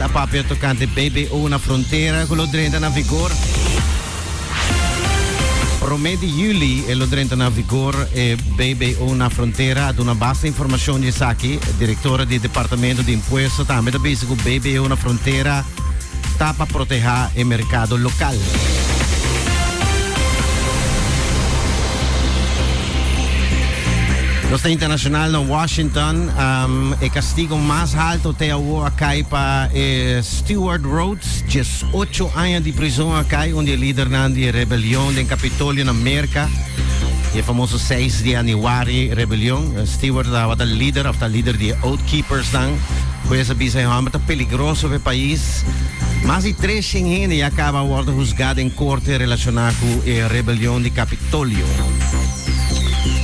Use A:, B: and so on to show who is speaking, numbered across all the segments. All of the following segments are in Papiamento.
A: Ta papia tocante BBO na frontera cu lo drenta na vigor. Prome di juli e lo drenta na vigor e BBO na frontera a duna basta informacion di esaki. Directora di Departamento di Impuesto tambe ta bisa cu BBO na frontera ta pa proteha e mercado local. Los internacional na Washington, um, e castigo más alto te Bo a kai pa e Stewart Rhodes, dies ocho aña di prizon a kai un di e lidernan di e rebelion den Capitolio na Merca, di e famoso seis di Anuari rebelion. Stewart tabata lider of ta lider di e Oath Keepersnan. Hues a bisa e homber ta peligroso pa e pais. Mas di trescien hende ya caba wordo husga den corte relaciona cu e rebelion di Capitolio.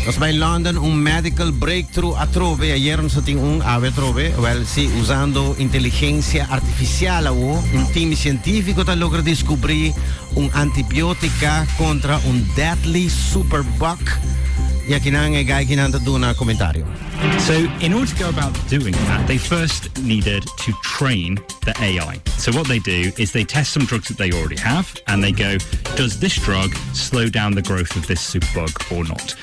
A: Nos bai London, un medical break. Tru atrobe ayer nos a tin un awe atrobe, wèl si usando inteligensia artifisial awo un tim di sientífiko ta logra diskubrí un antibiótika kontra un deadly super bug i aki nan e gaiky nan ta duna komentario. So in
B: order to go about doing that they first needed to train the ai. So what they do is they test some drugs that they already have and they go does this drug slow down the growth of this super bug or not.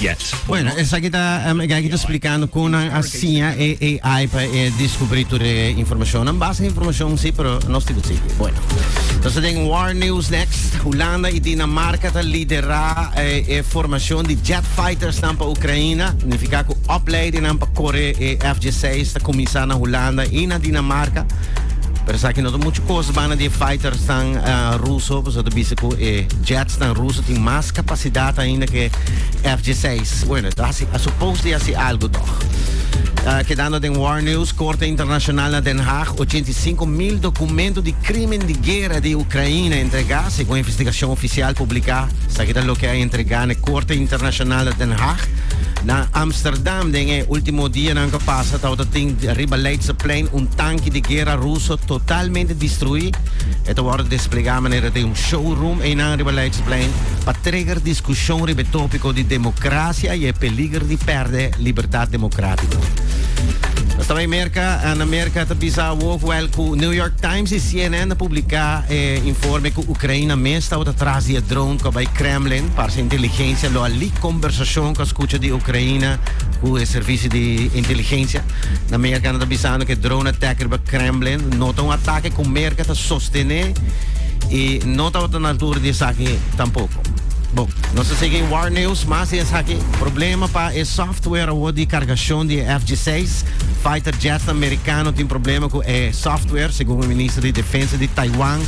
B: yet. Bueno, esaki ta
A: um, e gaki ta explicando con nan a siña e AI pa e descubrir tur e informacion. Nan base informacion sí, pero no stibu sí. Bueno. Entonces den War News next. Holanda y Dinamarca ta lidera eh, e formacion di jet fighters nan pa Ucraïna. Significa cu opleiding nan pa corre e FG6 ta comienza na Holanda y na Dinamarca. Pero sa que no mucho cosas van de fighters tan uh, ruso, pues dat bisa cu e jets tan ruso tin mas capacidad ainda que FJ seis. Bueno, está así, a supposed de así algo toch. Uh, quedando den War News, Corte Internacional na Den Haag, 85 mil documentos de crimen de guerra de Ucrânia entregá, según investigación oficial publicá, sa que lo que a entregá na Corte Internacional na Den Haag. Na Amsterdam, den e último día nan que pasa, tawta tin riba Leidseplein un tanque de guerra ruso totalmente destruí. Eto wordt desplegá manera de un showroom, e nan riba Explain pa trigger diskushon riba e tópiko di demokrasia i e peliger di pèrdè libertat demokratiko. Nos ta bai Merka, na Merka ta bisa awor fuel ku New York Times i CNN a publiká e informe ku Ukraina mes tabata tras di e drone ku a bai Kremlin. Parse inteligensia lo a leak kombersashon ku a skucha di Ukraina ku e servisio di inteligensia. Na Merka nan ta bisando ku e drone attack riba Kremlin no ta un atake ku Merka ta sostené. y no tabata na altura di esaki tampoco. Bo, no se sigue War News, mas es aquí. Problema pa e software awor di cargacion di F-16. Fighter jets americano tin problema cu e software, segun e minister di Defensa di Taiwan.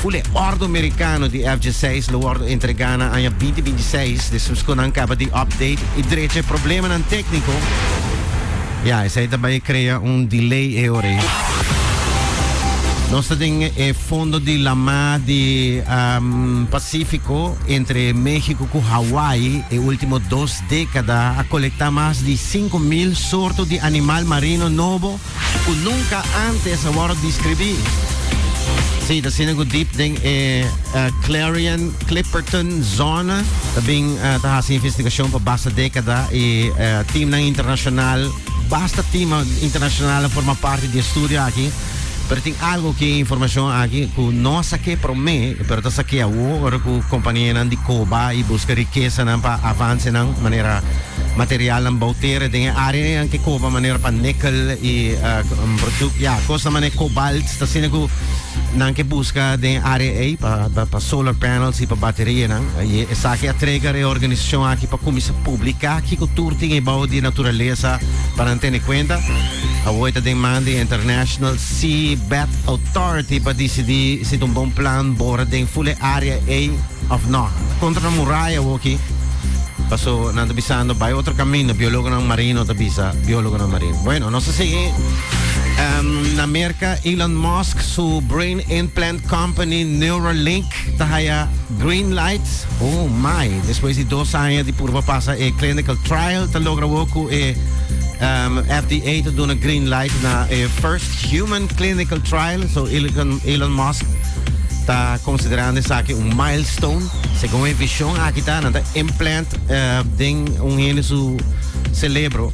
A: Full e ordo americano di F-16 lo wordo entrega na aña 2026. Despues cu nan caba di update y drecha e problemanan tecnico, Ya, esei ta bai crea un delay e ora ei. Nos ta den e fondo di la mar di um, Pacifico entre Mexico cu Hawaii e ultimo dos decada a colecta mas di cinco mil sorto di animal marino nobo cu nunca antes a worde describi. Sí, ta siña cu diep den e uh, Clarion Clipperton zona ta bin ta hasi investigashon pa basta dekada i timnan internashonal basta tima internashonal a forma parti di e studio aki pero tin algo ki informashon aki ku no a sakea promé pero ta sakea awo ora ku kompanianan di koba i buska rikesanan pa avansenan manera materialnan bou tera den e área nan ke koba manera pa nekel i bruduk ya kosnan manera kobalts ta asina ku Nan ke buska den área ei pa pa solar panels i pa baterianan. I esaki a trega reorganisashon aki pa kuminsá publiká kiko tur tin ebou di naturalesa pa nan tene kuenta. Awor e ta den man di International Seabed Authority pa disidí si ta un bon plan bora den ful e área ei òf nò. Kontra nan muraya awor aki, paso nan ta bisando bai otro kaminda, biólogonan marino ta bisa, biólogonan marino. Bueno, nos a sigui na mer. Ca Elon Musk su brain implant company Neuralink ta haya green light? Oh my! Despues di dos aña di purba pasa e clinical trial ta logra awor cu e FDA ta duna green light na e first human clinical trial. So Elon Musk ta considerando esaki un milestone. Segun e vision aki ta nan ta implant den un hende su celebro.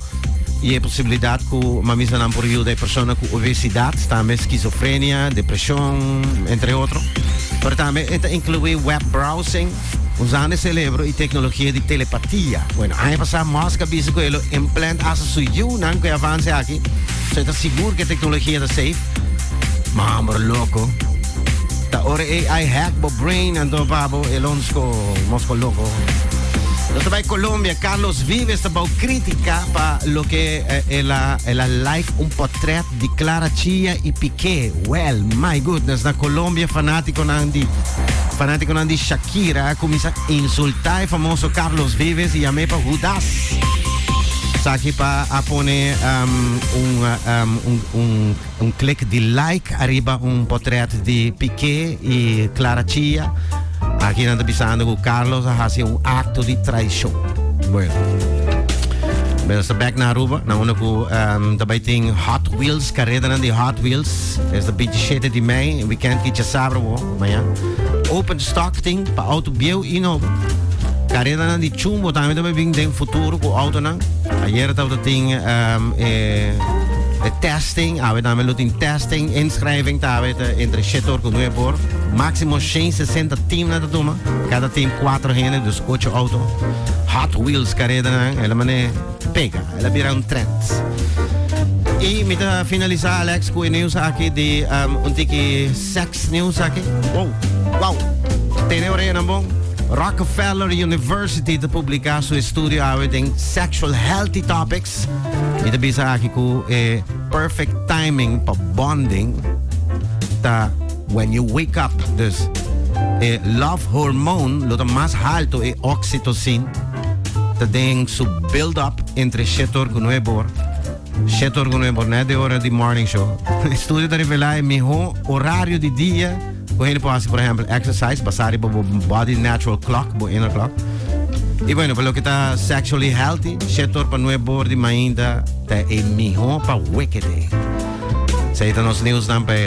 A: y e posibilidad cu mamisanan por yuda e persona cu obesidad, tambe schizofrenia, depresion, entre otro. Pero tambe e ta inclui web browsing, usando e cerebro y tecnologia di telepatia. Bueno, aña pasa Musk a bisa cu e lo implant asa su yiunan cu e avance aki, so e ta sigur cu e tecnologia ta safe. Ma, bro, loco. Ta ora AI hack bo brain, anto pa bo e lo mos loco. Nos ta bay Colombia, Carlos Vives. Bou critica pa loke el a el a like un potret di Clara Chia y Piqué. Well, my goodness, na Colombia fanaticonan di fanaticonan di Shakira a cuminsa insulta e famoso Carlos Vives y yam'e pa Judas. Saki pa a pone um, un, um, un, un Un klik di like ariba un potrèt di Piqué i Clara Chía. Aki nan ta bisando ku Carlos a hasi un akto di traishon. Bueno. Nos ta bèk na Aruba, na unda ku ta bai tin Hot Wheels, karedanan di Hot Wheels. Es ta bintishete di mei, wikènt ki djasabra awor, maña. Open stock tin pa outo bieu i nobo. Karedanan di chumbo tambe ta bai bin den futuro ku outonan. Ayer tabata tin e. Testing, awe tambe lo tin testing, inschrijving ta awe ta entre shetor cu nueve por, maximo shen sesenta team nan ta tuma, cada team cuatro hende, dus ocho auto, hot wheels careda nan, el a mane pega, el a bira un trend. Y mi ta finalisa Alex cu e nieuws aki di um, un tiki sex nieuws aki. Wow, wow, tene oreja nan bon. Rockefeller University te publica su estudio awe den sexual healthy topics. Mi ta bisa aki ku e perfect timing pa bonding ta when you wake up. Dus e love hormone lo ta mas halto, e oxytocin ta den su build up entre Shetor ku Nuebor. Shetor ku Nuebor net di ora di morning show. Estudio ta revela e mihó orario di dia. Bo hende por hasi por ehempel exercise basá riba bo body natural clock, bo inner clock. I bueno, pa loke ta sexually healthy, shetor pa nue bor di mainta ta e mihó pa wekete. Sa i ta nos news nan pa e.